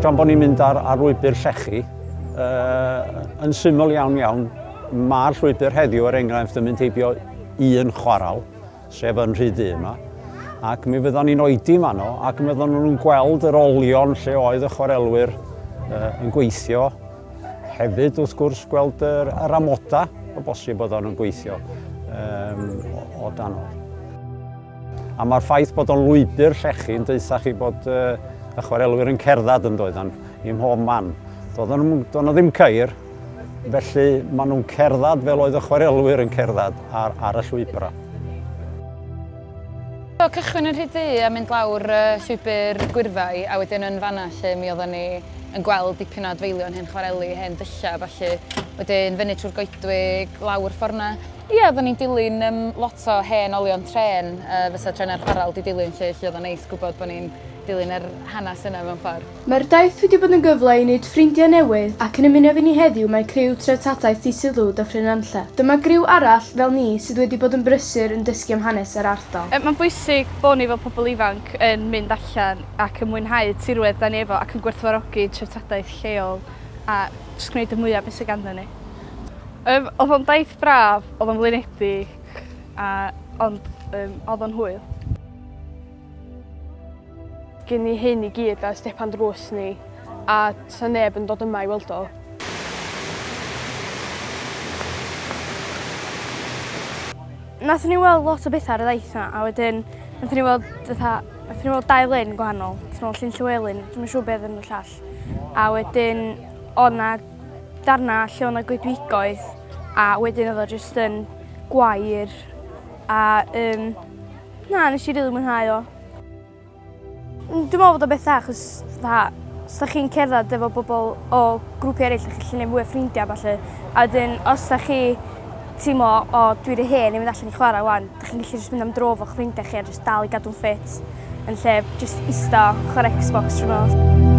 Gan bod ni'n mynd ar, ar lwybr llechi, uh, yn syml iawn iawn, mae'r llwybr heddiw er enghraifft yn mynd heibio un chwaral, sef yn rhy ddu yma, ac mi fyddwn ni'n oedi yma no, ac mi fyddwn nhw'n gweld yr olion lle oedd y chwarelwyr uh, yn gweithio. Hefyd, wrth gwrs, gweld yr, yr amoda o bosib oedd o'n gweithio um, o, o dan o. A mae'r ffaith bod o'n lwybr llechi yn deutha chi bod uh, y chwarelwyr yn cerdded yn doeddan, i mhob man. Doeddan nhw ddim ceir, Felly, maen nhw'n cerdded fel oedd y chwarelwyr yn cerdded ar, ar y llwybrau. So, cychwyn yn rhy du a mynd lawr uh, llwybr gwyrfau, a wedyn yn fanna lle mi oedden ni yn gweld dipyn o adfeilion hen chwareli, hen dyllau, falle. Wedyn fyny trwy'r goedwig, lawr fforna. Ie, oedden ni'n dilyn um, lot o hen olion tren, uh, fysa tren ar chwaral di dilyn lle, lle oedd o'n neis gwybod bod ni'n dilyn yr hanes yna mewn ffordd. Mae'r daith wedi bod yn gyfle i wneud ffrindiau newydd ac yn ymuno efo ni heddiw mae criw Treftadaeth Dydd Sul de Ffrynanlle. Dyma griw arall, fel ni, sydd wedi bod yn brysur yn dysgu am hanes yr ardal. Mae'n bwysig bod ni fel pobl ifanc yn mynd allan ac yn mwynhau tirwedd 'da ni efo ac yn gwerthfawrogi treftadaeth lleol a jyst gwneud y mwya' o be' sy ganddon ni. Yym o'dd o'n daith braf, o'dd o'n flinedig a ond yym o'dd o'n hwyl. Gei ni hyn i gyd ers depan drws ni a 'sa neb yn dod yma i weld o. Nathon ni weld lot o betha ar y ddaith 'ma a wedyn nathon ni weld fatha nathon ni weld dau lyn gwahanol. Nathon ni weld llyn Llywelyn, dwi'm yn siŵr be' odd enw'r llall. A wedyn o' 'na darna lle o' 'na goedwigoedd a wedyn odd o jyst yn gwair a yym na nesh i rili mwynhau o. Mm, dwi'n meddwl bod o beth dda, chos dda, os da chi'n cerdded efo bobl o grwpi eraill, da chi'n gallu gwneud mwy o ffrindiau falle. A wedyn, os da chi teimlo, o, dwi wedi hen i mynd allan i chwarae wan, da chi'n gallu jyst mynd am dro fo'ch ffrindiau chi a jyst dal i gadw'n ffit yn lle jyst ista chwarae Xbox trwy nos.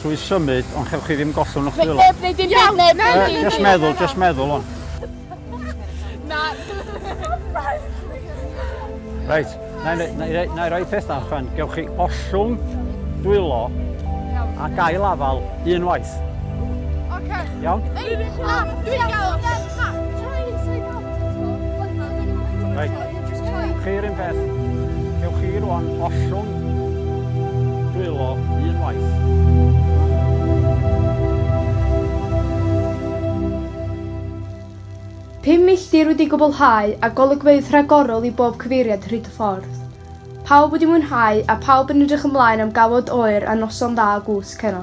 Trwy symud, ond chewch chi ddim gollwng o'ch dwylo. Neb, neu dim byd, neb, neu dim byd. Just meddwl, just meddwl on. Na. Reit, na i roi peth na, chwan. Gewch chi ollwng dwylo a gael afal unwaith. Oce. Iawn? Dwi'n gael. Reit. Chi'r un peth. Cewch chi rwan ollwng dwylo un waith. Pum milltir wedi gwblhau a golygfeydd rhagorol i bob cyfeiriad hyd y ffordd. Pawb wedi mwynhau a phawb yn edrych ymlaen am gawod oer a noson dda o gwsg heno.